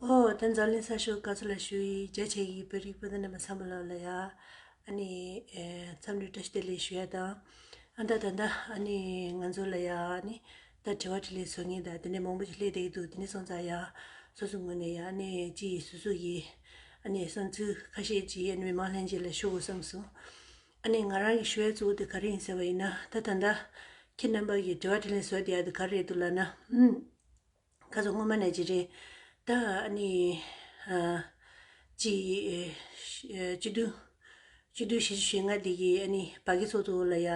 ཨོ་དེ་འཛམ་གླིང་གསར་ཤོག་ག་ཚོད་ལ་ཞུ་ཡིས་རྒྱ་ཆེ་གི་བོད་རིགས་སྤུན་ཟླ་རྣམས་པ་ཚང་མ་ལོག་ལ་ཡ་ཨ་ནི་འཚམས་འདྲི་བཀྲ་ཤིས་བདེ་ལེགས་ཞུ་ཡ་དང་ཨ་ད་ད་ད་ཨ་ནི་ང་ཚོ་ལ་ཡ་ཨ་ནི་ད་དྲི་བ་དྲི་ལེ་ཟོ་ངེས་ད་དེ་ནས་མང་པོ་ཞིག་སླེབས་བསྡད་ཀྱི་འདུག་དེ་ནས་སོང་ཙང་ཡ་སོ་སོ་ངོས་ནས་ཡ་ཨ་ནི་ཅི་ཡིས་སུ་སུ་ཡིས་ཨ་ནི་བསམ་ཚུལ་ཁ་ཤས་ཀྱིས་ཨ་ནི་མི་མང་ལྷན་རྒྱས་ལ་ཞུ་དགོས་བསམ་སོང། ཨ་ནེ་ང་རང་གི་ཞུ་བའི་གཙོ་བོ་དེ་ག་རེ་ཡིན་ཟེར་བ་ཡིན་ན་ད་ད་ད། ཁྱེད་རྣམ་པ་གིས་དྲི་བ་དྲིས་ལན་བཟོས་བསྡད་ཡ་དེ་ག་རེ་རེད་འདུག་ལབ་ན། ཧུམ། ཁ་རྩོད་སྔོན་མ་ནས་ཇི་རེད། ད་ཨ་ནེ། གཅིག། གཅིག་བདུན། གཅིག་བདུན་བཞི་བཅུ་ཞེ་ལྔ་འདི་གི་ཨ་ནེ་བ་གི་ཚོགས་འདུ་ལ་ཡ།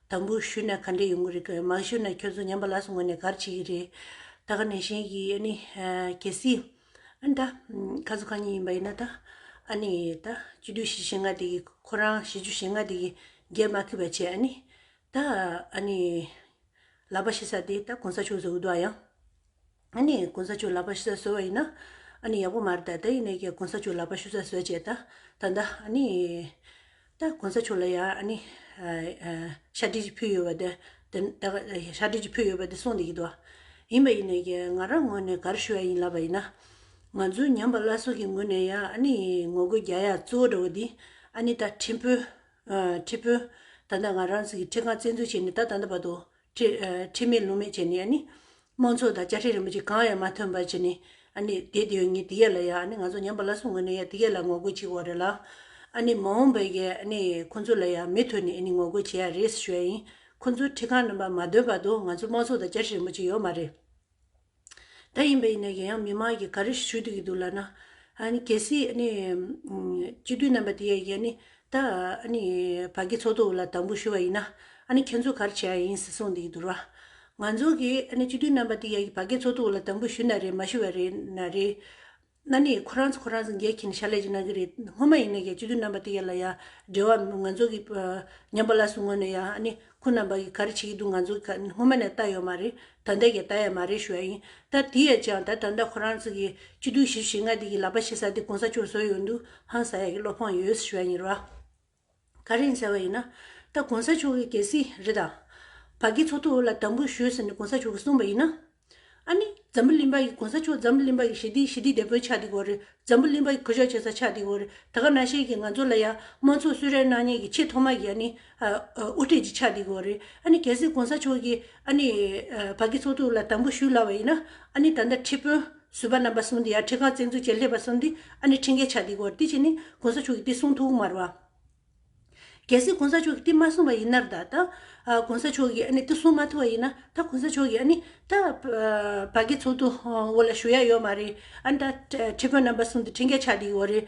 དམ་འབུལ་ཞུས་ན་ག་འདྲས་ཡོང་གི་རེད་ཀི་མ་ཞུས་ན་ཁྱོད་ཚོ་ཉམས་པ་ལགས་སུ་ངོས་ནས་གར་བྱེད་ཀྱི་རེད། ད་ག་ནས་བཞིན་གྱི་ཨ་ནེ། གལ་སྲིད། ཨ་ད། ཁ་ཟུ་གང་ཉིད་ཡིན་པ་ཡིན་ན་ད། ཨ་ནི། ད་སྤྱི་བདུད་བཞི་ཞེ་ལྔ་དེ་གིས་ཁོ་རང་བཞི་བཅུ་ཞེ་ལྔ་དེ་གིས་རྒྱལ་མ་ཁི་བ་བྱས་ཨ་ནི། ད། ཨ་ནི། ལག་པ་ཤི་ས་དེ་ད་གོང་ས་མཆོག་ཟོ་གི་འདུག་ཨ་ཡང། ཨ་ནི། གོང་ས་མཆོག་ལག་པ་ཤི་ས་ཟོ་བ་ཡིན་ན། ཨ་ནི་ཡག་པོ་མ་རེད་ད། ད་ཡིན་ནའི་ཀྱང་གོང་ས་མཆོག་ལག་པ་ཤུ་ས་ཟོས་བྱས་ད། ད་ད། ཨ་ནི། ད་གོང་ས་མཆོག་ལ་ཡང་ནི། ཤ་དྲིལ་གྱིས་ཕུལ་ཡོད་པ་དེ། ཤ་དྲིལ་གྱིས་ཕུལ་ཡོད་པ་དེ་གསུངས་འདི་སྐད་དོ། ཡིན་པ་ཡིན་ནས་ཀྱི་ང་རང་ངོས་ནས་གར་ཞུ་བ་ཡིན་ལབ་པ་ཡིན་ན། ང་ཚོའི་ཉམས་པ་བླ་སྲོག་གི་ངོས་ནས་ཡང་ནི་ངོ་རྒོལ་རྒྱག་ཡ་གཙོ་བོ་འདྲ་བོ་འདི། ནི་ད་ཁྲི་དཔོན། ཁྲི་དཔོན། ད་ད་ང་རང་ཚོ་གི་ཁྲི་ཁང་བཙན་འཛུལ་བྱས་ནས་ད་ད་ད་བར་དུ། ཁྲེལ་མེད་ལུང་མེད་བྱས་ནས་ནི། དམངས་ཚོགས་དང་བཅའ་ཁྲིམས་རིན་པོ་ཆེ་གང་ཡང་མ་ཐོན་པར་བྱས་ནས། དེ་དུས་ངས་དེ་ག་ལ་ཡག་ང་ཚོ་ཉམས་པ་སླར་གསོ་དངོས་ནས་ཡག་དེ་ག་ལ་ངོ་རྒོལ་བྱེད་དགོས་རེད་ལ། མ་འོངས་པའི་གལ་ཁོ་ཚོ་ལ་ཡང་མི་ཐོན་ནས་ངོ་རྒོལ་བྱེད་ཡག་རེད་ཟེར་ཞོར་ཡིན་ཁོ་ཚོ་ཁྲི་ཁང་རྣམ་པར་མ་སྡོད་བར་དུ་ང་ཚོ་དམངས་ཚོགས་དང་བཅའ་ཁྲིམས་རིན་པོ་ཆེ་ཡོད་མ་རེད། ད་ཡིན་པ་ཡིན་ན་ཡང་ཡང་མི་མང་གིས་ག་རེ་ཞུ་འདོད་ཀྱི་འདུག་ལགས་ན། ཨ་ནི་གལ་སྲིད་ཨ་ནི། སྤྱི་འཐུས་རྣམ་པ་དེ་ཡང་ཡང་ནི་ད་ཨ་ནི་བ་གི་ཚོགས་འདུ་ལ་དམ་འབུལ་ཞུ་བ་ཡིན་ན་ཨ་ནི་ཁྱེད་ཚོ་ག་རེ་བྱེད་ཡ་ཡིན་ཟེར་གསུངས་འདོད་ཀྱི་འདུག་ལགས། ང་ཚོ་གིས་ཨ་ནི་སྤྱི་འཐུས་རྣམ་པ་དེ་ཡང་བ་གའི་ཚོགས་འདུ་ལ་དམ་འབུལ་ཞུ་ན་རེད་མ་ཞུ་བ་རེད་ན་རེད། གནའ་ནས་ཁོ་རང་ཚོ་ཁོ་རང་ཚོ་འགལ་ཁྱིན་ཤ་ལས་ཀྱི་གནང་གི་རེད་སྔོན་མ་ཡིན་ན་ཡང་སྤྱི་འཐུས་རྣམ་པ་དེ་ཡ་ལ་ཡ་འབྲེལ་བ་ང་ཚོ་གི་ཉམས་པ་ལ་སུ་ངོ་ནས་ཡང་ཨ་ནི་ཁོ་རྣམ་པ་གི་ག་རེ་བྱེད་ཀྱི་འདུག་ང་ཚོ་གི་སྔོན་མ་ནས་ལྟ་ཡོད་མ་རེད་ད་ལྟ་ཡང་ལྟ་ཡ་མ་རེད་ཞུ་ཡ་ཡིན་ད་དེ་ཡ་ཅང་ད་ད་ལྟ་ཁོ་རང་ཚོ་གི་སྤྱི་འཐུས་ཞེ་བཞི་ལྔ་དེ་གི་ལག་པ་ཕྱེ་ས་དེ་གོང་ས་མཆོག་བཟོ་ཡོད་འདུག་ཧང་ས་ཡ་གི་བློ་ཕངས་ཡོད་ཞུ་ཡ་ཡིན་ར། ག་རེ་ཡིན་ཟེར་བ་ཡིན་ན། ད་གོང་ས་མཆོག་གིས་གལ་སྲིད་རི་དྭགས་བ་ཀའི་ཚོགས་འདུ་ལ་དམ་འབུལ་ཞུས་ཟེར་ནས་གོང་ས་མཆོག་གིས་གསུངས་པ་ཡིན་ན། ཨ་ནི་འཛམ་བུ་གླིང་པ་ཡིས་གོང་ས་མཆོག་འཛམ་བུ་གླིང་པ་ཡི་ཞི་བདེའི་ཞི་བདེའི་དེད་དཔོན་ཆགས་འདི་གོ་རེད། འཛམ་བུ་གླིང་པ་ཡི་ཁུ་བྱག་བྱེད་ས་ཆགས་འདི་གོ་རེད། ད་ག་ན་ཤེས་ཀྱི་ང་ཚོ་ལ་ཡང་དམངས་ཚོགས་གསོལ་རས་གནང་ཉེན་གྱི་ཆེས་ཐོག་མ་གི་ཨ་ནི་དབུ་ཁྲིད་ཅིག་ཆགས་འདི་གོ་རེད། ཨ་ནི་གལ་སྲིད་གོང་ས་མཆོག་གིས་ཨ་ནི་བ་ཀའི་ཚོགས་འདུ་ལ་དམ་འབུལ་ཞུས་སླ་བ་ཡིན་ན། ཨ་ནི་ད་ལྟ་ཁྲི་དཔོན། བཟོད་པ་རྣམ་པ་གསུངས་འདི་ཡང་ཁྲི་ཁང་བཙན་འཛུལ་བྱེད་སླད་པ་གསུམ་སྟེ། ཨ་ནི་ཁྲིམས་འགལ་ཆགས་འདི་གོ། འདི་གཅིག་ནི། གོང་ས་མཆོག་གི་བསྟི་གསུང་ཐོག་མར་བ། གལ་སྲིད་གོང་ས་མཆོག་གི་བསྟི་མ་གསུངས་པ་ཡིན་ནར་ད། ད། གོང་ས་མཆོག་གིས་ཨ་ནི་བསྟི་གསུང་མ་ཐུབ་པ་ཡིན་ན། ད་གོང་ས་མཆོག་གིས་ཨ་ནི། ད། བ་གི་ཚོགས་འདུ། འོག་ལ་ཞུ་ཡ་ཡོད་མ་རེད། ཨ་ནི་ད། ཁྲི་ཁང་རྣམ་པ་གསུམ་འདི་ཁྲིམས་འགལ་ཆགས་འདི་གོ་རེད།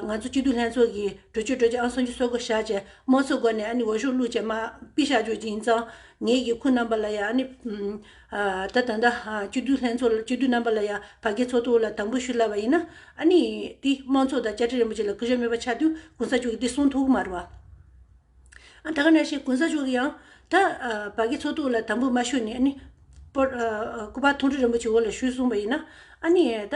ང་ཚོ་སྐྱིད་སྡུག་ལྷན་ཚོགས་ཀྱིས་གྲོས་ཆོད་གྲོས་ཅི་ཨང་སོང་ཅི་སོགས་བསྐོ་བཞག་བྱས། དམངས་གཙོའི་སྒོ་ནས་ཨ་ནི་འོས་ཤོག་བླུགས་བྱས་མ། པི་བཞག་བྱོས་ཀྱི་ཡིན་ཙང། ངེད་ཀྱི་ཁུར་རྣམ་པ་ལ་ཡང་ཨ་ནི། ད་ད་ལྟ་སྤྱི་འཐུས་ལྷན་ཚོགས་སྤྱི་འཐུས་རྣམ་པ་ལ་ཡང་ཕ་གི་ཚོགས་ཐུགས་ལ་དམ་པོ་ཞུ་སླ་བ་ཡིན་ན། ཨ་ནི། དེ་དམངས་ཚོགས་དང་བཅའ་ཁྲི་རིན་པོ་ཆེ་ལ་གུས་ཞབས་མེད་པ་ཆགས་དུས་གོང་ས་མཆོག་གི་དེ་གསུང་ཐུགས་མར་བ། ཨ་ད་ག་ནས་ཤེས་གོང་ས་མཆོག་གི་ཡང། ད་ཕ་གི་ཚོགས་ཐུགས་ལ་དམ་པོ་མ་ཞུ་ནས་ཨ་ནི། སྐུ་པར་ཐུགས་ཁྲི་རིན་པོ་ཆེ་འོག་ལ་ཞུས་གསུང་བ་ཡིན་ན། ཨ་ནི། ད།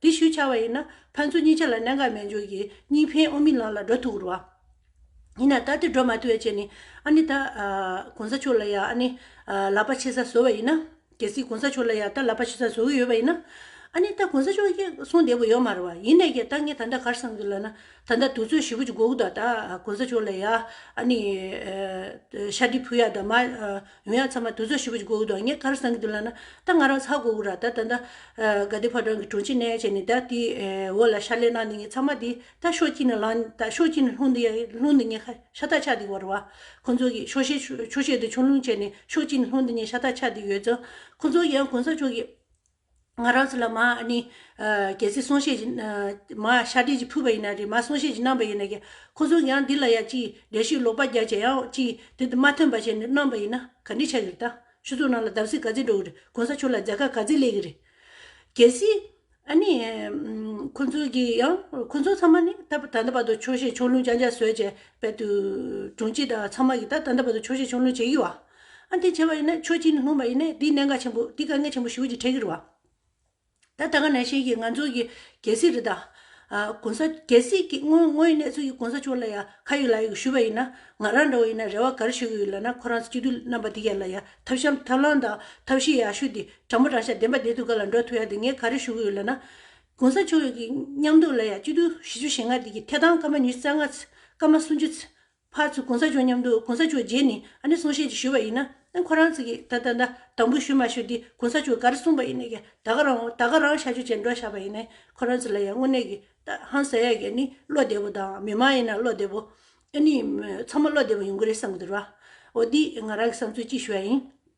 འདི་ཞུ་བྱ་བ་ཡིན་ན་ཕན་ཚུན་གཉིས་ཆ་ལ་གནད་འགག་མེད་འཇུག་གིས་གཉིས་ཕན་དབུ་མའི་ལམ་ལ་འགྲོ་ཐུབ་རུང། ཡིན་ན་ད་དེ་འགྲོ་མ་ཐུབ་བའི་ཆེད་ནས་ཨ་ནི་ད། གོང་ས་མཆོག་ལ་ཡང་ཨ་ནི། ལག་པ་ཕྱེ་ས་བཟོ་བ་ཡིན་ན། གལ་སྲིད་གོང་ས་མཆོག་ལ་ཡང་ད་ལག་པ་ཕྱེ་ས་བཟོ་གི་ཡོད་པ་ཡིན་ན། ཨ་ནི་ད་གོང་ས་མཆོག་གིས་གསུང་བདེ་པོ་ཡོད་མ་རུང་བ་ཡིན་ནས་ཀྱི་ད་ངས་ད་ལྟ་གར་སོང་གི་ལབ་ན་ད་ལྟ་དུས་ཚོད་བཞི་བོ་ཅིག་འགོར་གི་འདུག་ད་གོང་ས་མཆོག་ལ་ཡང་ཨ་ནི། ཤ་འདྲི་ཕུལ་ཡག་དང་མ། ཡོན་ཡང་ཚང་མ་དུས་ཚོད་ཧྲིལ་པོ་ཅིག་གོ་གི་འདུག་ངས་ག་རེ་བསམ་གི་འདུག་ལབ་ན། ད་ང་རང་ཚག་གོ་གི་ར་ད་ད་ད། ག་དུས་ཕར་དྲང་གི་དྲུང་ཆེ་ནས་བྱས་ནས་ད་དེའི་འོག་ལ་ཤར་ལས་གནང་འདི་ངས་ཚང་མ་འདི་ད་ཤོག་ཅིག་ནས་ལངས་ད་ཤོག་ཅིག་ནས་ལྷུང་འདི་ལྷུང་འདི་ངས་ཤ་སྟག་ཆགས་འདི་བར་བ། ཁོ་ཚོ་གིས་ཤོག་ཤེས་ཤོག་ཤེས་འདི་ཆུང་ལུང་བྱས་ནས་ཤོག་ཅིག་ནས་ལྷུང་འདི་ངས་ཤ་སྟག་ཆགས་འདི་ཡོད་ཙང། ཁོ་ཚོ་ཡང་གོང་ས་མཆོག་གིས། ང་རང་ཚོ་ལ་མ་ནི། གལ་སྲིད་གསུང་བཤད་ཀྱི། མ་ཤ་འདྲེས་ཀྱི་ཕུད་པ་ཡིན་ན་རེད་མ་གསུང་བཤད་ཀྱི་རྣམ་པ་ཡིན་ན་ཀྱང། ཁོ་ཚོ་ཡང་འདི་ལ་ཡང་ཅིག་འགྲེལ་བཤད་ལོག་པ་རྒྱག་བྱས་ཡང་ཅིག་དེ་དེ་མ་ཐོན་པ་བྱས་ནས་གནང་པ་ཡིན་ན་ག་འདྲི་ཆགས་ཀྱི་རེད་ད། ཆུ་ཚོགས་ནང་ལ་བརྡབ་གསིག་ག་ཚད་འགྲོ་གི་རེད་གོང་ས་མཆོག་ལ་རྫ་ཁ་ག་ཚད་ལས་ཀྱི་རེད། གལ་སྲིད། ཨ་ནི། ཁོ་ཚོ་གིས་ཡང་ཁོ་ཚོ་ཚང་མ་ནི་ད་ད་ལྟ་བར་དུ་ཆོག་ཤེས་ཆོག་ལུང་རྐྱང་རྐྱང་བཟོས་བྱས་པས་དུས། དྲུང་ཆེ་དང་ཚང་མ་གིས་ད་ད་ལྟ་བར་དུ་ཆོག་ཤེས་ཆོག་ལུང་བྱེད་ཀྱི་བ། ཨ་འཐས་བྱས་པ་ཡིན་ན་ཆོས་སྤྱི་ནས་སྨོན་པ་ཡིན་ནས་དེའི་གནད་འགག་ཆེན་པོ་དེ་དཀའ་ངལ་ཆེན་པོ་ཞུ་རྒྱུ་ཁྲེལ་གི་རུ་བ། ད་ད་ག་ནས་ཤེས་ཀྱི་ང་ཚོ་གི་གལ་སྲིད་རི་དྭགས། གོང་ས་གལ་སྲིད་ཀྱི་ངོ་ངོ་ཡི་གནས་ཚུལ་གྱི་གོང་ས་མཆོག་ལ་ཡ་ཁ་ཡོད་ལག་ཡོད་ཞུས་པ་ཡིན་ན་ང་རང་འདྲ་བོ་ཡིན་ན་རེ་བ་ག་རེ་ཞུ་གི་ཡོད་ལབ་ན་ཁོ་རང་ཚོ་སྤྱི་འཐུས་རྣམ་པ་དེ་ག་ལ་ཡ་ཐབས་བཤམས་ཐབས་ལངས་དང་ཐབས་ཤེས་ཡ་ཞུ་དེ་དྲང་པོ་དྲང་ཤ་བདེན་པ་བདེན་ཐུགས་ག་ལ་འགྲོ་ཐུགས་ཡ་དེ་ངས་ག་རེ་ཞུ་གི་ཡོད་ལབ་ན། གོང་ས་མཆོག་ཡོད་ཀྱི་མཉམ་འདུག་ལ་ཡ་སྤྱི་འཐུས་བཞི་ཅུ་ཞེ་ལྔ་དེ་གི་ཐད་གཏང་སྐར་མ་ཉི་རྩ་ལྔ་ཚེ་སྐར་མ་སུམ་ཅུ་ཚེ་ཕར་ཚུར་གོང་ས་མཆོག་མཉམ་དུ་གོང་ས་མཆོག་རྗེས་ནི་ཨ་ནི་གསུང་བཤད་ཅིག་ཞུས་པ་ཡིན་ན་ཁོ་རང་ཚིག་གིས་ད་ད་ད་དང་པོ་ཞུ་མ་ཞུ་འདི་གོང་ས་མཆོག་གར་གསུངས་པ་ཡིན་ནས་ཀྱི་ད་ག་རང་ད་ག་རང་བཤད་རྒྱུ་བྱེད་འགྲོ་ཞག་པ་ཡིན་ནས་ཁོ་རང་ཚིག་ལ་ཡང་དངོས་གནས་ཀྱི་ད་ཧང་ཟེར་ཡ་གྱི་ནི་བློ་བདེ་པོ་དང་མི་མང་ཡིན་ན་བློ་བདེ་པོ་ཨ་ནི་ཚང་མ་བློ་བདེ་པོ་ཡོང་གི་རེད་བསམ་གྱི་འདུག་ར་འོ་འདིས་ང་རང་གི་བསམ་ཚུལ་གཅིག་ཞུ་ཡ་ཡིན།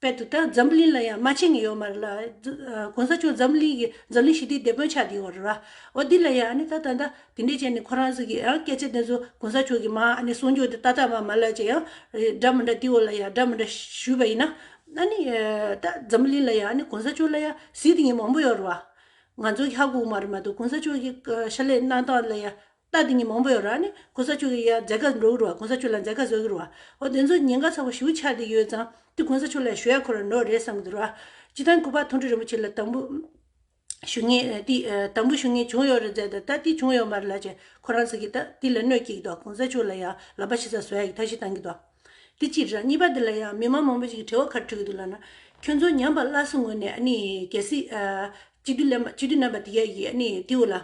དཔལ་དུ་དང་འཛམ་བུ་གླིང་ལ་ཡང་མ་ཕྱིན་ཡོད་མ་རེད་ལ། གོང་ས་མཆོག་འཛམ་བུ་གླིང་གི་འཛམ་གླིང་ཞི་བདེའི་སྡེ་དཔོན་ཆགས་ཀྱི་ཡོད་རེད་བ། འོ་འདི་ལ་ཡང་ཨ་ནི་ད་ད་ད་དེ་འདྲའི་ཅན་ནི་ཁོ་རང་ཟིག་གི་ཡང་སྐད་ཆ་དེ་ཚོ་གོང་ས་མཆོག་གི་མ་ཨ་ནི་གསུང་ཆོས་དེ་ཏག་ཏག་མ་མ་ལབ་ཅེ་ཡང་འདྲ་མི་འདྲ་དེའི་འོག་ལ་ཡང་འདྲ་མི་འདྲ་ཞུས་པ་ཡིན་ན། ཨ་ནི་ད་འཛམ་བུ་གླིང་ལ་ཡང་ཨ་ནི་གོང་ས་མཆོག་ལ་ཡང་ཟིག་དེ་ཉིད་མང་པོ་ཡོད་རེད་བ། ང་ཚོ་ཧ་གོ་མ་རེད་མ་གཏོགས་གོང་ས་མཆོག་གི་ཤ་ལས་སྣང་སྟངས་ལ་ཡང་རྟགས་དེ་ཉིད་མང་པོ་ཡོད་རང་ནི་གོང་ས་མཆོག་གི་ཡང་མཛད་དགའ་འགྲོ་གི་རུ་བ་གོང་ས་མཆོག་ལ་མཛད་དགའ་བཟོ་གི་རུ་བ་འོ་དེ་ཚོ་ཉེན་ཁ་ཚ་བོ་ཞུ་ཆགས་འདི་ཡོད་ཙང་དེ་གོང་ས་མཆོག་ལ་ཞུ་ཡ་འཁོར་བ་འགྲོ་རེད་བསམ་གི་འདུག་ར་སྤྱི་དང་སྐུ་པར་མཐོང་གྲུབ་རིན་པོ་ཆེ་ལ་དང་པོ་ཞུ་ངེས་དེ་དང་པོ་ཞུ་ངེས་བྱུང་ཡོད་རེད་ཟེར་ད་ལྟ་དེ་བྱུང་ཡོད་མ་རེད་ལ་ཅེས་ཁོ་རང་ཟེར་གི་ད་དེ་ལ་གནོད་སྐྱེལ་གི་འདུག་གོང་ས་མཆོག་ལ་ཡང་ལབ་པ་ཞིག་ཚ་བཟོ་ཡ་གི་ཐབས་ཤེས་གཏང་གི་འདུག་འདི་གཅིག་རེད། གཉིས་པ་འདི་ལ་ཡང་མི་མང་མང་པོ་ཞིག་གིས་དྲི་བ་ཁ་དྲུད་ཀྱི་འདུག་ལགས་ན། ཁྱོད་ཚོ་ཉམས་པ་སླར་གསོ་ངོས་ནས་ནི་གལ་སྲིད། གཅིག་སྡུད་ལེན་པ་འདི་ག་ཡིས་ནི་ཏི་ཝུ་ལ།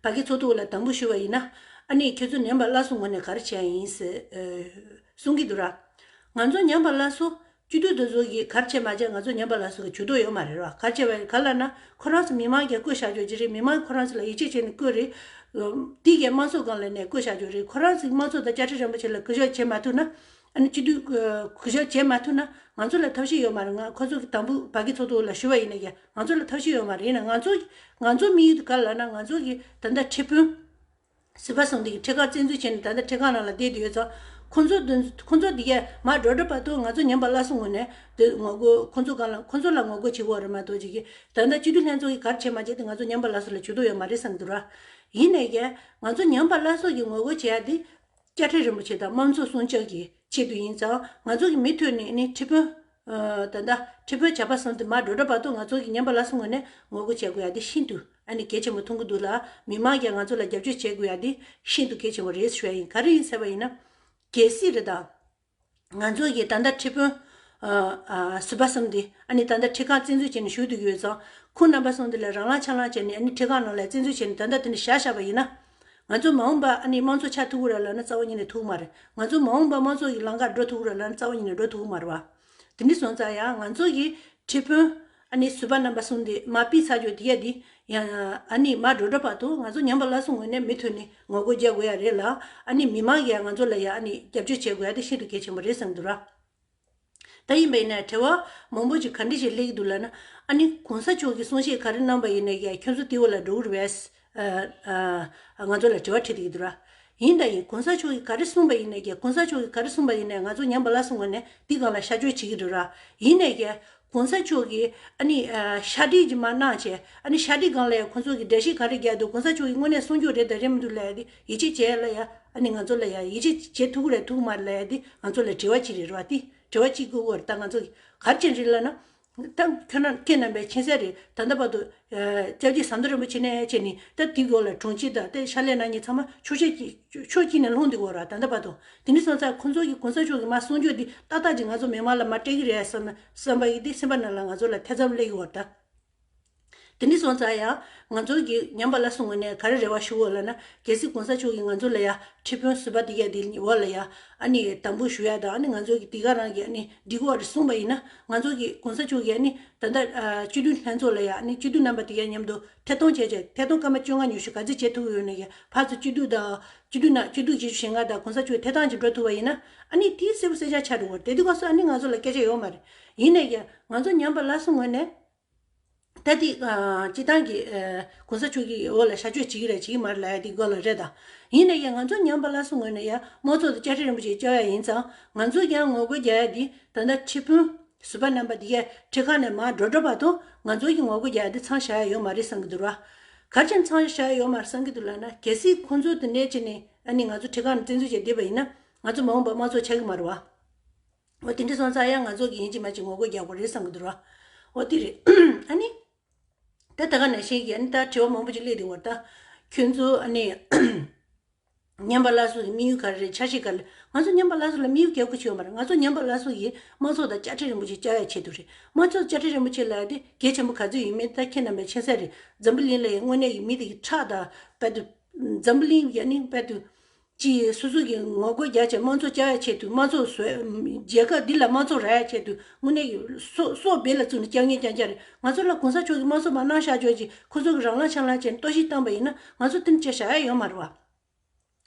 བ་ཀི་ཚོགས་ཏུ་ལ་དང་པོ་ཞུ་བ་ཡིན་ན། ནི་ཁྱོད་ཚོ་ཉམས་པ་སླར་གསོ་ངོས་ནས་ག་རེ་བྱས་ཡིན། གསུང་གི་འདུག་ར། ང་ཚོ་ཉམས་པ་སླར་གསོ། སྤྱི་འཐུས་དེ་ཚོ་གིས་གར་བྱེད་མ་བྱེད་ང་ཚོ་ཉན་པ་ལ་སོགས་ཀྱི་ཇུས་གཏོགས་ཡོད་མ་རེད་བ་གར་བྱེད་པ་ཡིན་ག་ལ་ན་ཁོ་རང་ཚོ་མི་མང་གིས་བསྐོས་བཞག་རྒྱོ་གྱི་རེད་མི་མང་གིས་ཁོ་རང་ཚོ་ལ་ཡིད་ཆེས་བྱེད་ནས་བསྐོས་རེད། དེ་གས་དམངས་ཚོགས་གང་ལ་ནས་བསྐོས་བཞག་རྒྱོ་རེད་ཁོ་རང་ཚོ་དམངས་ཚོགས་དང་བཅའ་ཁྲི་རིན་པོ་ཆེ་ལ་གུས་ཞབས་བྱེད་མ་ཐུབ་ན། ཨ་ནི་སྤྱི་འཐུས་གུས་ཞབས་བྱེད་མ་ཐུབ་ན་ང་ཚོ་ལ་ཐབས་ཤེས་ཡོད་མ་རེད་ང་ཁོ་ཚོ་གི་དང་པོ་བ་གི་ཚོགས་འདུ་ལ་ཞུ་བ་ཡིན་ན་ཡང་ང་ཚོ་ལ་ཐབས་ཤེས་ཡོད་མ་རེད་ཡིན་ན་ང་ཚོ་ང་ཚོ་མི་ཡུལ་དུ་ག་ལ་ན་ང་ཚོ་གི་ད་ལྟ་ཁྲི་དཔོན། ཟིལ་པ་སྲང་སྡེ་གི་ཁྲི་ཁར་བཙན་འཛུལ་བྱས་ནས་ད་ལྟ་ཁྲི་ཁང་ནང་ལ་བསྡད་དུ་ཡོད་ཚོ། ཁོ་ཚོ་འདི་གས་མར་འགྲོ་འགྲོ་བར་དུ་ང་ཚོ་ཉམས་པ་སླར་གསོ་ངོ་ནས་འདོད། ངོ་རྒོལ་ཁོ་ཚོ་གང་ལ་ཁོ་ཚོ་ལ་ངོ་རྒོལ་བྱེད་འོ་རེ་མ་གཏོགས་ཅི་གིས་ད་ལྟ་སྤྱི་འཐུས་ལྷན་ཚོགས་ཀྱི་གར་བྱེད་མ་བྱེད་དེ་ང་ཚོ་ཉམས་པ་སླར་གསོ་ལ་བྱུ་དོ་ཡོད་མ་རེད་བསམ་གི་འདུག་ར། ཡིན་ནས་ཀྱེ། ང་ཚོ་ཉམས་པ་སླར་གསོ་གི་ངོ་རྒོལ་བྱེད་ཡ་དེ། བཅའ་ཁྲི་རིན་པོ་ཆེ་དང་དམངས་གཙོ་སྲུང་བཅག་གི་ཆེད་དུ་ཡིན་ཙང་ང་ཚོ་གི་མི་ཐོས་ནས་ནི་ཁྲི་དཔོན། ད་ལྟ་ཁྲི་དཔོན་བྱ་བ་ཟོམ་དེ་མར་འགྲོ་འདྲ་བར་དུ་ང་ཚོ་གི་ཉན་པ་ལ་སོ་ངོ་ནས་ངོ་རྒོལ་བྱེད་དགོས་ཡ་དེ་ཤིན་ཏུ་ཨ་ནི་གལ་ཆེན་པོ་མཐོང་གི་འདུག་ལ་མི་མང་ཀྱང་ང་ཚོ་ལ་རྒྱབ་སྐྱོད་བྱེད་དགོས་ཡ་དེ་ཤིན་ཏུ་གལ་ཆེན་པོ་རེད་ཞུ་ཡ་ཡིན་ག་རེ་ཡིན་ཟེར་བ་ཡིན་ན། གལ་སྲིད་རེད་ད། ང་ཚོ་ཡི་ད་ལྟ་ཁྲི་དཔོན། ཟུར་པ་གསུམ་འདི་ཨ་ནི་ད་ལྟ་ཁྲི་ཁང་བཙན་འཛུལ་བྱས་ནས་བཞུགས་འདུག་ཡོད་ཙང། ཁོང་རྣམ་པ་སོང་འདི་ལ་རང་ལངས་ཆ་ལངས་བྱས་ནས་ཨ་ནི་ཁྲི་ཁང་ནང་ལ་བཙན་འཛུལ་བྱས་ནས་ད་ལྟ་འདི་ནས་བཞག་བཞག་པ་ཡིན་ན། ང་ཚོ་མ་འོངས་པ་ཨ་ནི་དམངས་གཙོ་ཆགས་ཐུབ་ར་ལ་ན་རྩ་བ་ཉིད་ནས་ཐུག་མ་རེད། ང་ཚོ་མ་འོངས་པ་དམངས་གཙོ་ཡི་ལང་ཀར་འགྲོ་ཐུབ་ར་ལ་ན་རྩ་བ་ཉིད་ནས་འགྲོ་ཐུབ་མ་རེད་བ། དེ་འདྲི་སོང་ཙང་ཡང་ང་ཚོ་ཡི་ཁྲི་དཔོན། ཨ་ནི་བཟོད་པ་རྣམ་པ་གསུམ་དེས་མ་དཔེའི་ཚ་འཇུག་དེ་ཡ་དེ། ཡང། ཨ་ནི་མ་འགྲོ་འགྲོ་བར་དུ་ང་ཚོ་ཉམས་པ་སླར་སོང་ངོས་ནས་མི་ཐོན་ནི་ངོ་རྒོལ་རྒྱག་དགོས་ཡ་རེད་ལ། ཨ་ནི་མི་མང་གིས་ཡང་ང་ཚོ་ལ་ཡང་ཨ་ནི་རྒྱབ་སྐྱོར་བྱེད་དགོས་ཡ་དེ་ཤིན་ཏུ་གལ་ཆེན་པོ་རེད་བསམ་འདུག་ར། ད་ཡིན་པ་ཡིན་ནའི་བྲེལ་བ་མང་པོ་ཅིག་ག་འདྲི་ཞིག་སླེབས་ཀྱི་འདུག་ལ་ན། ཨ་ནི་གོང་ས་མཆོག་གིས་གསུང་བཤད་ག་རེ་གནང་པ་ཡིན་ནའི་ཡ་ཁྱོད་ཚོ་ཏི་བོ་ལ་འགྲོ་འུར་བས། ང་ཚོ་ལ་དྲི་བ་དྲིས་འདུག་གི་འདུག་ར། ཡིན་ད་ཡིན་གོང་ས་མཆོག་གིས་ག་རེ་གསུངས་པ་ཡིན་ནས་ཀྱེ་གོང་ས་མཆོག་གིས་ག་རེ་གསུངས་པ་ཡིན་ནས་ང་ཚོ་ཉམས་པ་ལ་གསུངས་པ་ནས་འདི་གང་ལ་བཤའ་བཅོས་བྱེད་ཀྱི་འདུག་ར། ཡིན་ནས་ཀྱེ། གོང་ས་མཆོག་གིས་ཨ་ནི། བཤའ་དྲིས་ཀྱི་མ་གནང་བྱས། ཨ་ནི་བཤའ་དྲིས་གང་ལ་ཡང་གོང་ཚོགས་ཀྱིས་འདྲ་བཤིས་ག་རེ་རྒྱག་འདུག་གོང་ས་མཆོག་གིས་དངོས་གནས་གསུང་རྒྱུ་རེད་དང་རེད་མི་འདུག་ལ་ཡ་དེ་ཡིད་ཆེས་བྱས་ལ་ཡ། ཨ་ནི་ང་ཚོ་ལ་ཡ་ཡིད་ཆེས་བྱེད་ཐུག་གི་རེད་ཐུག་གི་མ་རེད་ལ་ཡ་དེ་ང་ཚོ་ལ་དྲི་བ་གཅིག་རེ་རོ། དྲི་བ་གཅིག་གི་འོག་རེ་ད་ང་ཚོ་གིས་གར་ཅན་རེད་ལ་ན། དང། ཁྱོད་རང་སྐད་རྣམ་པའི་མཁྱེན་གསལ་རེད། ད་ལྟ་བར་དུ། ལྕགས་ཀྱི་ཟམ་གདོང་རིན་པོ་ཆེ་ནས་བཅས་ནི། སྟབས་དེའི་སྒོ་ལ་གྲོང་ཁྱེར་དང་སྟེ་ཤར་ལྷའི་ནང་གཉིས་ཚང་མ་ཕྱོགས་གཅིག་གི། ཕྱོགས་གཅིག་ནས་ལྷོང་དུ་འགོ་ར་ད་ལྟ་བར་དུ། དེ་ནི་སོང་ཙང་ཁོང་ཚོ་གི་གོང་ས་མཆོག་གི་མ་གསུང་ཆོས་འདི་ཏག་ཏག་ཅིག་ང་ཚོ་མི་དམངས་ལ་མ་སྤྲད་གི་རེད་བསམ། བསམ་པ་ཡིན་ཏེ་སེམས་པ་རྣམས་ལ་ང་ཚོ་ལ་ཐེ་ཚོམ་སླེ་གི་འོར་ད། དེ་ནས་བཟུང་ཙང་ཡང་ང་ཚོ་གིས་ཉམས་པ་ལ་སོང་བ་ནས་ག་རེ་རེ་བ་ཞུ་འོ་ལ་ན་རྒྱལ་སྲིད་གོང་ས་མཆོག་གིས་ང་ཚོ་ལ་ཡ་ཁྲི་དཔོན་བཟོས་པ་འདི་ཡ་འདི་འོ་ལ་ཡ་ཨ་ནི་དམ་འབུལ་ཞུ་ཡ་དང་ཨ་ནི་ང་ཚོ་གིས་འདི་ག་རང་གིས་ཨ་ནི་འདི་གོ་རེ་གསུངས་པ་ཡིན་ན་ང་ཚོ་གིས་གོང་ས་མཆོག་གིས་ཨ་ནི་ད་ལྟ་སྤྱི་འཐུས་ལྷན་ཚོགས་ལ་ཡ་ཨ་ནི་སྤྱི་འཐུས་རྣམ་པ་འདི་ག་མཉམ་དུ་ཐད་གཏོང་བྱས་བྱས་ཐད་གཏོང་སྐར་མ་བཅོ་ལྔ་ཉུལ་ཞུ་ག་ཚད་བྱེད་ཐུབ་ཡོད་ན་ཡ་བར་དུ་སྤྱི་འཐུས་དང་སྤྱི་འཐུས་རྣམས་སྤྱི་འཐུས་བྱེད་ཞུ་བྱེད་ང་དང་གོང་ས་མཆོག་གི་ཐད་གཏང་བྱེད་འགྲོ་ཐུབ་པ་ཡིན་ན་ཨ་ནི་དེའི་གསལ་པོ་གསལ་ཆ་ཆགས་འགྲོ་གོ་རེ་དེ་དུས་གོང་ས་ཨ་ནི་ང་ཚོ་ལ་སྐད་ཆ་ཡོད་མ་རེད་ཡིན་ན་ཡ་ང་ཚོ་ཉམས་པ་ལ་སོང་བ་ནས། ད་འདི་སྤྱི་བཏང་གི་གོང་ས་མཆོག་གིས་འོ་ལ་ཤ་གཅོད་བྱེད་ཀྱི་རེད་བྱེད་ཀྱི་མ་རེད་ལ་ཡ་འདི་གོ་ལ་རེད་ད། ཡིན་ན་ཡང་ང་ཚོ་ཉམས་པ་སླར་གསོ་ངོས་ནས་ཡང་དམངས་གཙོ་དང་བཅའ་ཁྲིམས་རིན་པོ་ཆེ་བཅའ་བ་ཡ་ཡིན་ཙང་ང་ཚོ་ཡང་ངོ་རྒོལ་རྒྱག་ཡ་འདི་ད་ལྟ་ཁྲི་དཔོན་ཟུར་པ་རྣམ་པ་འདི་གས་ཁྲི་ཁ་ནས་མར་འགྲོ་འགྲོ་བར་དུ་ང་ཚོ་ཡང་ངོ་རྒོལ་རྒྱག་ཡ་འདི་ཚང་བཞག་ཡ་ཡོད་མ་རེད་བསམ་གྱི་འདུག་ར། གར་ཕྱིན་ཚང་བཞག་ཡ་ཡོད་མ་རེད་བསམ་གྱི་འདུག་ལ་ན་གལ་སྲིད་ཁོང་ཚོ་དེ་འདྲའི་ཆེད་ནས་ཨ་ནི་ང་ཚོ་ཁྲི་ཁ་ནས་བཙན་འཛུལ་བྱས་བསྡད་པ་ཡིན་ན་ང་ཚོ་མ་འོངས་པར་དམངས་གཙོ་ཆགས་ཀྱི་མ་རེད་བ། འོ་དེ་འདྲ་སོང་ཙང་ཡང་ང་ཚོ་གི་ཡིན་གཅིག་མ་གཅིག་ངོ་རྒོལ་རྒྱག་པ་རེད་བསམ་གི་འདུག་ར་འོ་དེ་རེད་ཨ་ནི། ད་ད་ག་ནས་ཤེས་ཀྱི་ཨ་ནི་ད་དྲི་བ་མང་པོ་ཅིག་སླེབས་འདུག་བར་ད། ཁྱོད་ཚོ་ཨ་ནི། ཉམས་པ་བླ་སྲོག་གི་དམིགས་ཡུལ་ག་རེ་རེད་འཆར་གཞི་ག་རེ་རེད་ང་ཚོ་ཉམས་པ་བླ་སྲོག་ལ་དམིགས་ཡུལ་བརྒྱག་དགོས་ཆེད་ཡོད་མ་རེད་ང་ཚོ་ཉམས་པ་བླ་སྲོག་གིས་དམངས་ཚོགས་དང་བཅའ་ཁྲི་རིན་པོ་ཆེ་བཅའ་ཡ་ཆེད་དུ་རེད་དམངས་ཚོགས་དང་བཅའ་ཁྲི་རིན་པོ་ཆེ་ལ་ཡ་དེ་གལ་ཆེན་པོ་ག་ཚོད་ཡིན་མིན་ད་ཁྱེད་རྣམས་ལ་མཁྱེན་གསལ་རེད་འཛམ་བུ་གླིང་ལ་ཡ་དངོས་གནས་ཀྱི་མི་དེ་གི་ཁྲག་དང་དཔལ་དུ། འཛམ་བུ་གླིང་ཡ་ནི་དཔལ་དུ། གཅིག་སོ་སོ་གི་ངོ་རྒོལ་རྒྱ་ཆེ་མང་ཚོགས་བཅའ་ཡག་ཆེད་དུ་མང་ཚོགས་བཟོས། རྒྱལ་ཁབ་འདི་ལ་མང་ཚོགས་ར་ཡག་ཆེད་དུ་དངོས་གནས་ཡོད། སོག་སྦེ་ལ་བཙུགས་ནས་བསྐྱར་ཉོས་ཀྱང་བསྐྱར་རེད། ང་ཚོ་ལ་གོང་ས་མཆོག་གིས་དམངས་གཙོ་མ་གནང་ཤག་ཆོག་ཅིག་ཁོ་ཚོ་གི་རང་ལག་ཆ་ལག་བྱས་ནས་གཏོར་བཤིག་བཏང་པ་ཡིན་ན་ང་ཚོ་དེ་འདྲ་བྱ་ཤག་ཡ་ཡོད་མ་རེད་བ།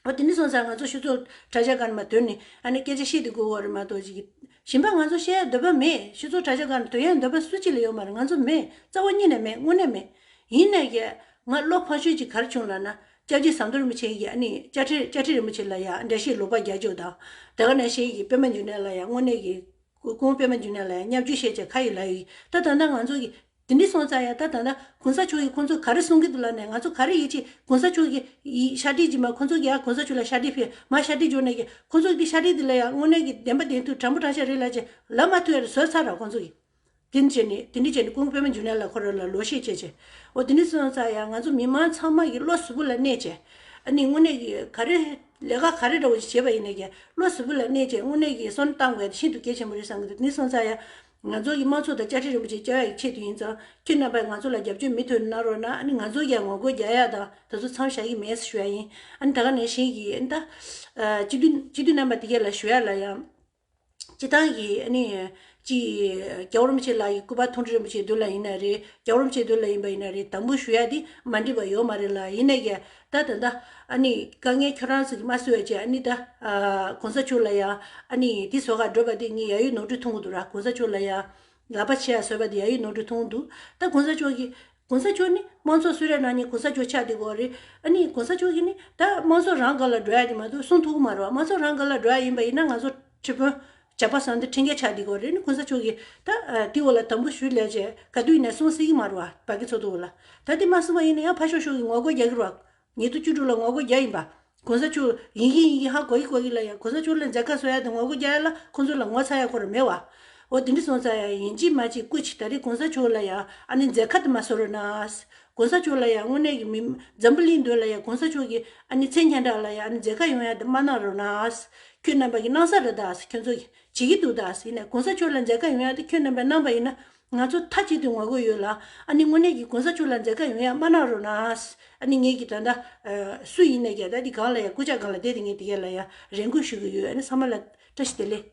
འོ་དེ་འདྲ་སོང་ཙང་ང་ཚོ་ཤུ་ཚོགས་གྲ་ཤག་གང་ནས་མ་དོན་ནི་ཨ་ནེ་སྐད་ཆ་བཤད་དུ་དགོས་བ་རེད་མ་གཏོགས་ཅིག་གིཞིན་པ་ང་ཚོ་བཤད་ཡག་འདོད་པ་མེད་ཤུ་ཚོགས་གྲ་ཤག་གང་ནས་དོན་ཡག་འདོད་པ་སུ་གཅིག་ལ་ཡོད་མ་རེད་ང་ཚོ་མེད་རྩ་བ་གཉིས་ནས་མེད་དངོས་གནས་མེད། ཡིན་ན་ཡང་ང་བློ་ཕངས་ཤོས་ཅིག་གར་བྱུང་ལ་ན་ལྕགས་ཀྱི་ཟངས་མདོག་རིན་པོ་ཆེ་ཡི་ཡ་ནི་ལྕགས་ཁྲེ་ལྕགས་ཁྲེ་རིན་པོ་ཆེ་ལ་ཡང་འདྲ་ཞིང་ལོག་པ་བརྒྱ་བཅུ་དང་བྲལ་བ་ནས་ཞེས་ཡི་པད་མ་འཇུ་ནད་ལ་ཡང་སྔོ་ནད་ཀྱི། གུང་པད་མ་འཇུ་ནད་ལ་ཡང་སྙབ་འཇུ་ཤེས་བྱ་ཁ་ཡི་ལ་ཡི། ད་ད་ནངང་ཚུགས་ཀྱི། དེ་ནི་སོང་ཙང་ཡང་ད་ད་ན་གུང་ས་མཆོག་གིས་ཁོང་ཚོ་ག་རེ་གསུང་གི་འདུག་ལ་ནས་ང་ཚོ་ག་རེ་ཡིད་ཆེས་གུང་ས་མཆོག་གིས། ཤ་དྲིལ་གྱིས་མ་ཁོང་ཚོ་གིས་ཡང་གུང་ས་མཆོག་ལ་ཤ་དྲིལ་ཕེ་མ་ཤ་དྲིལ་འཇོག་ནས་ཀྱི་ཁོང་ཚོ་གིས་ཤ་དྲིལ་འདི་ལ་ཡང་སྔོ་ནད་ཀྱི་བདེན་པ་བདེན་མཐུ་དྲང་པོ་དྲང་ཤ་རེད་ལ་ཅི་ལབ་མ་ཐུ་ཡ་རེ་བཟོས་ཚར་ར་ཁོང་ཚོ་གིས། དེ་ནི་བྱས་ནས་དེ་ནི་བྱས་ནས་ཀུན་དགའ་པདྨ་འཇུ་ནན་ལ་འཁོར་རོལ་ལ་ལོ་ཤས་སྤྱད་བྱས། འོ་དེ་ནི་སོང་ཙང་ཡང་ང་ཚོ་མི་མང་ཚང་མ་ཡི་བློ་གཟུ་བོ་ལ་གནས་བྱས། ཨ་ནི་དངོས་གནས་ཀྱི་ག་རེ། ལས་ཀ་ག་རེ་འདྲ་བོ་ཞིག་བྱས་པ་ཡིན་ནས་ཀྱང་བློ་གཟུ་བོ་ལ་གནས་བྱས་དངོས་གནས་ཀྱི་སོན་གཏང་དགོས་ན་ཤིན་ཏུ་གལ་ཆེན་པོ་རེད་བསམ་གྱི་འདུག་དེ་ནི་སོང་ཙང་ཡང། ང་ཚོ་ཡི་དམངས་ཚོགས་དང་བཅའ་ཁྲི་རིན་པོ་ཆེ་བཅའ་ཡག་གི་ཆེད་དུ་ཡིན་ཙང་ཁྱེད་རྣམ་པས་ང་ཚོ་ལ་རྒྱབ་སྐྱོར་མི་ཐོན་གནང་རོགས་གནང་ཨ་ནི་ང་ཚོ་ཀྱང་ངོ་རྒོལ་རྒྱག་ཡག་དང་ད་གཟུགས་མཚམས་བཞག་གི་མེད་ཞུ་ཡག་ཡིན་ཨ་ནི་ད་ག་ནས་བཞིན་གྱི་ཨ་ནི་ད། སྤྱི་འཐུས་སྤྱི་འཐུས་རྣམ་པ་དེ་ག་ལ་ཞུ་ཡག་ལ་ཡང། སྤྱི་ཐང་གི་ནི། ཀྱི། རྒྱལ་བ་རིན་པོ་ཆེ་ལ་ཡི་སྐུ་པ་ཐུང་གྲི་རིན་པོ་ཆེའི་དུས་ལ་ཡིན་ན་རེད། རྒྱལ་བ་རིན་པོ་ཆེའི་དུས་ལ་ཡིན་པ་ཡིན་ན་རེད་དམ་འབུལ་ཞུ་ཡག་འདི་མ་འགྲིག་པ་ཡོད་མ་རེད་ལ་ཡིན་ན་ཡ། ད་ད་ད། ཨ་ནི། དཀའ་ངལ་ཁྱོད་རང་ཚོ་གི་མ་བསུ་བའི་ཆེད་ཨ་ནི་ད། ཨ། གོང་ས་མཆོག་ལ་ཡ། ཨ་ནི། དེ་སོག་ཁ་བསྒྲོད་པ་དེ་གཉིས་ཡ་ཡོད་ནོར་འཁྲུལ་ཐུང་གི་འདུག་ར་གོང་ས་མཆོག་ལ་ཡ། ལ་པ་ཆེ་ཡ་ཟོས་པ་དེ་ཡ་ཡིག་ནོར་འཁྲུལ་མཐོང་འདུག་ད་གོང་ས་མཆོག་གིས། གོང་ས་མཆོག་ནི་དམངས་ཚོགས་སུ་རེད་ནང་ནས་གོང་ས་མཆོག་ཆགས་འདི་གོ་རེད། ཨ་ནི་གོང་ས་མཆོག་གིས་ནི་ད་དམངས་ཚོགས་རང་དགར་ལ་འགྲོ་ཡ་འདི་མ་གཏོགས་གསུང་ཐུགས་མ་རོགས་དམངས་ཚོགས་རང་དགར་ལ་འགྲོ་ཡ་ཡིན་པ་ཡིན་ན་ང་ཚོ་ཁྲི་དཔོན། ཇག་པ་སང་འདི་ཁྲིན་ཀའི་ཆགས་འདི་གོ་རེད་ནི་གོང་ས་མཆོག་གིས་ད་དེ་འོ་ལ་དམ་འབུ་ཞུ་ལས་བྱེད་ག་དུས་ཡིན་ནས་གསུང་སྲིད་ཡིག་མ་རོགས་བ་གི་ཚོགས་འདུ་འོ་ལ་ད་དེ་མ་གསུང་བ་ཡིན་ནི་ཡང་ཕ་ཤོག་ཤོག་གི་ངོ་རྒོལ་རྒྱག་གི་རོགས། ཉེ་དུ་བཅུ་དྲུག་ལ་ངོ་རྒོལ་བརྒྱ་ཡིན་པ། གོང་ས་མཆོག་ཡིན་གྱི་ཡིན་གྱི་ཧ་གོ་གི་གོ་གི་ལ་ཡང་གོང་ས་མཆོག་ལ་མཛད་དཀའ་སོ་ཡ་དང་ངོ་རྒོལ་བརྒྱ་ཡ་ལ་ཁོང་ཚོ་ལ་ངོ་ཚ་ཡ་གོ་ར་མེད་བ། འོ་དེ་འདྲི་སོང་ཚ་ཡ་ཡིན་ཅིག་མ་ཅིག་སྐུ་ཅིག་ད་རེས་གོང་ས་མཆོག་ལ་ཡང་ཨ་ནི་མཛད་ཁ་དུ་མ་བཟོ་རོ་ནའ། གོང་ས་མཆོག་ལ་ཡང་དངོས་གནས་ཀྱི་མི། འཛམ་བུ་གླིང་འདོད་ལ་ཡང་གོང་ས་མཆོག་གི་ཨ་ནི་མཚན་ཁྱེན་དྲག་ལ་ཡང་ཨ་ནི་མཛད་ཁ་ཡོང་ཡ་དུ་མ་གནང་རོ་ནའ། ཁྱོད་རྣམ་པ་གི་གནང་ས་ར་དའ་ཁྱོད་ཚོ་གི་བྱེད་གི་འདུག་དའ་ཡིན་ན་གོང་ས་མཆོག་ལ་མཛད་ཁ་ཡོང་ཡ་དུ་ཁྱོད་རྣམ་པས་གནང་བ་ཡིན་ན་ང་ཚོ་མཐའ་གཅིག་ཏུ་ངོ་རྒོལ་ཡོད་ལ། ཨ་ནི་དངོས་གནས་ཀྱི་གོང་ས་མཆོག་ལ་མཛད་དཀའ་ཡོང་ཡག་མ་གནང་རོགས་གནང། ཨ་ནི་ངེད་ཀྱི་ད་ལྟ། སུ་ཡིན་ནས་ཀྱང་ད་ནི་གང་ལ་ཡང་སྐུ་ཕྱྭ་གང་ལ་བསྡད་དེ་ངེད་དེ་ག་ལ་ཡང་རེ་འགུལ་ཞུ་གི་ཡོད་ཨ་ནི་ས་མ་ལ། བཀྲ་ཤིས་བདེ་ལེགས།